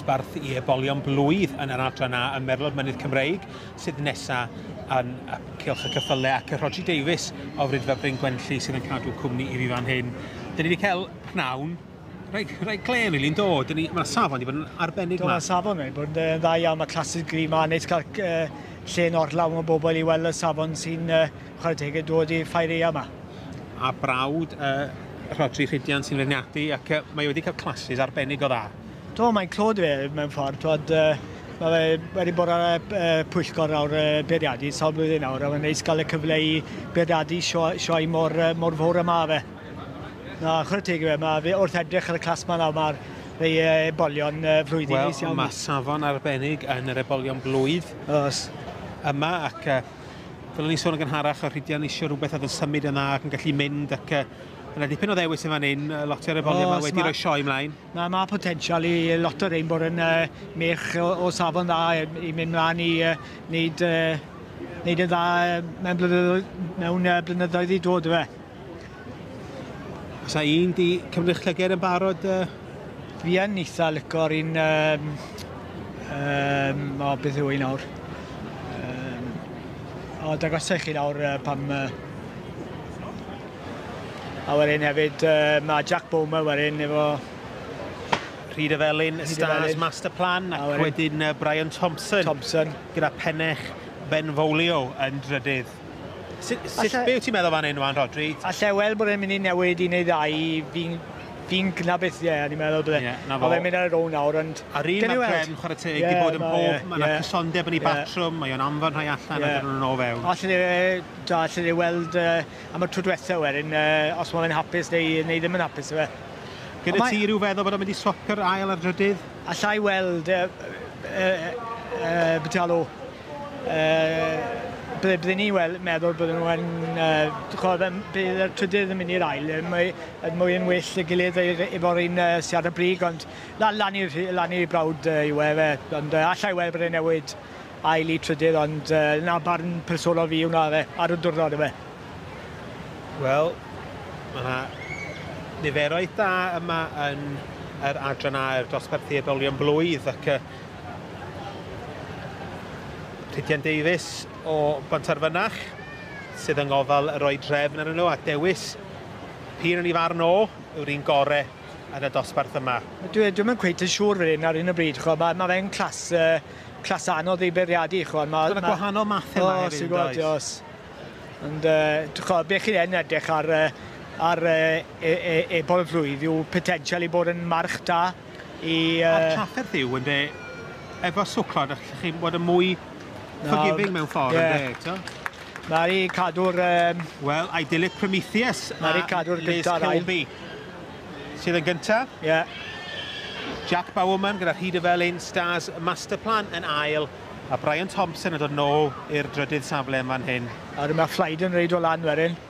dosbarth i ebolion blwydd yn yr adran A ym Merlod Mynydd Cymreig sydd nesaf yn y Cylch y Cyffyle ac y Rhodri Davies o Frydfa Bryn Gwenlli sydd yn cadw cwmni i fi fan hyn. Dyn ni wedi cael pnawn rhaid, rhaid clen rili'n dod. Ni, mae safon wedi bod yn arbennig yma. Mae safon wedi bod yn dda iawn, mae clasys gri yma, neis cael uh, lle yn orlawn o bobl i weld y safon sy'n uh, Chwarae teg i dod i Ffaeria yma. A brawd y Rhodri Rhidian sy'n feirniadu ac mae wedi cael classes arbennig o dda. Do, mae'n clod fe mewn ffordd. Twod, mae fe wedi bod ar y pwyllgor nawr y beirniadu sawl blwyddyn nawr a mae'n neis gael y cyfle i beirniadu sioe mor, mor fawr yma fe. Na, chwarae teg i fe, mae fe wrth edrych ar y clas yma nawr, mae'r rei ebolion flwyddyn well, neis iawn. Wel, mae safon arbennig yn yr ebolion blwydd. Oes. Yma ac Fel o'n i'n sôn yn gynharach, o Rhydian eisiau rhywbeth oedd yn symud yn dda ac yn gallu mynd ac uh, yna dipyn o ddewis yn fan hyn, lot o'r efoliad yma wedi rhoi sioe ymlaen. Mae ma potensial i lot o'r ein bod yn uh, mech o, o safon dda i mynd mlaen i uh, wneud, uh, wneud yn dda mewn blynyddoedd, mewn, uh, blynyddoedd i dod, fe. Os a un di cymryd llyged yn barod? Uh... Fi yn eitha licor un... Um, um, o, beth yw un awr? Um, o, dagosau chi nawr uh, pam... Uh, a wedyn hefyd, uh, mae Jack Bowman wedyn efo... Rhyd y Felin, Stars Master Plan, ac wedyn uh, Brian Thompson. Thompson. Gyda pennech Ben Folio yn drydydd. Sut, sut, be wyt ti'n meddwl fan hyn, Wan Rodri? Alla weld bod e'n mynd i newid un neu ddau, fi'n fi gna beth ie, ni'n meddwl bydde. Yeah, na fo. Oedd e'n mynd ar y row nawr, ond... A rhywun mae Prem, chwarae teg, yeah, di bod yn pob, yeah, mae yna yeah. cysondeb yn ei yeah. batrwm, mae o'n anfon rhai allan yeah. a dyn nhw'n ôl fewn. Alla ni, da, alla ni weld uh, am y tro diwetha wedyn, uh, os mae'n hapus neu, neu ddim yn hapus, yw e. Gyda ti rhyw feddwl bod o'n mynd i swapio'r ail ar drydydd? Alla i weld uh, uh, uh, Bitalo Yy ble bydden ni wel meddwl bydden nhw yn yy ch'od yym bydd y trydydd yn mynd i'r ail yy mae yn mwy yn well 'da gilydd yy ef- efo'r un yy sy ar y brig ond la- lan i rhy- lan i brawd yy yw e fe ond yy allai weld bod e'n newid ail i trydydd ond yy 'na barn personol fi wnna yfe ar y dwrnod yfe. Wel ma' 'na niferoedd da yma yn yr adran aur dosbarthiad olion blwydd ac yy Rhydian Davies o Bontarfynach sydd yng ngofal roi drefn arnyn nhw a dewis p'un yn ei farn o yw'r un gore yn y dosbarth yma. Dwi dwi'm yn cweit yn siŵr fan hyn ar hyn o bryd ch'mo' ma' ma' fe'n clas yy clas anodd ei bwriadu ch'mo' ma' ma'... gwahanol mathe yma hefyd yn does? Oes oes. Ond yy ch'mo' be' chi yn edrych ar yy ar yy e- e- e- bob plwyf yw potensial i bod yn march da. I yy... A'r trafferth yw ynde efo swclod a lle chi'n bod yn mwy forgiving mewn ffordd yeah. ynde t'o'? Nawn ni cadw'r yym... Wel, idyllic Prometheus a Nawn ni cadw'r gynta ar ail. Sydd yn gynta? Ie. Yeah. Jack Bowerman gyda Rhy de Felin, Stars Masterplan yn ail, a Brian Thompson yn dod nôl i'r drydydd safle yn fan hyn. A dyma Flyden reid o lan wedyn.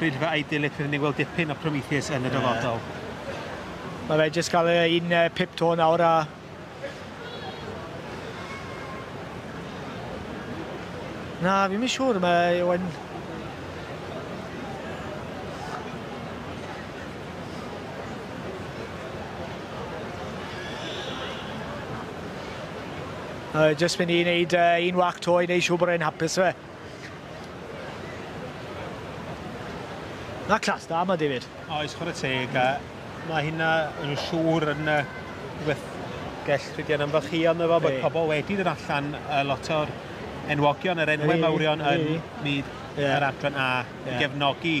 Rydfa Idyllic rydyn ni'n gweld dipyn o Prometheus yn y dyfodol. Mae fe jyst cael e un uh, pip to nawr a... Na, fi'n mynd siŵr, mae Ewan... Uh, just mynd i wneud uh, un wac to i wneud siŵr bod e'n hapus fe. Na clas da yma, David. Oes, chwarae teg, a mae hynna yn siŵr yn rhywbeth gell rhydian am fach hi, ond efo bod pobl wedi dod allan a lot o'r enwogion, yr enwau mawrion yn myd yr adran A i gefnogi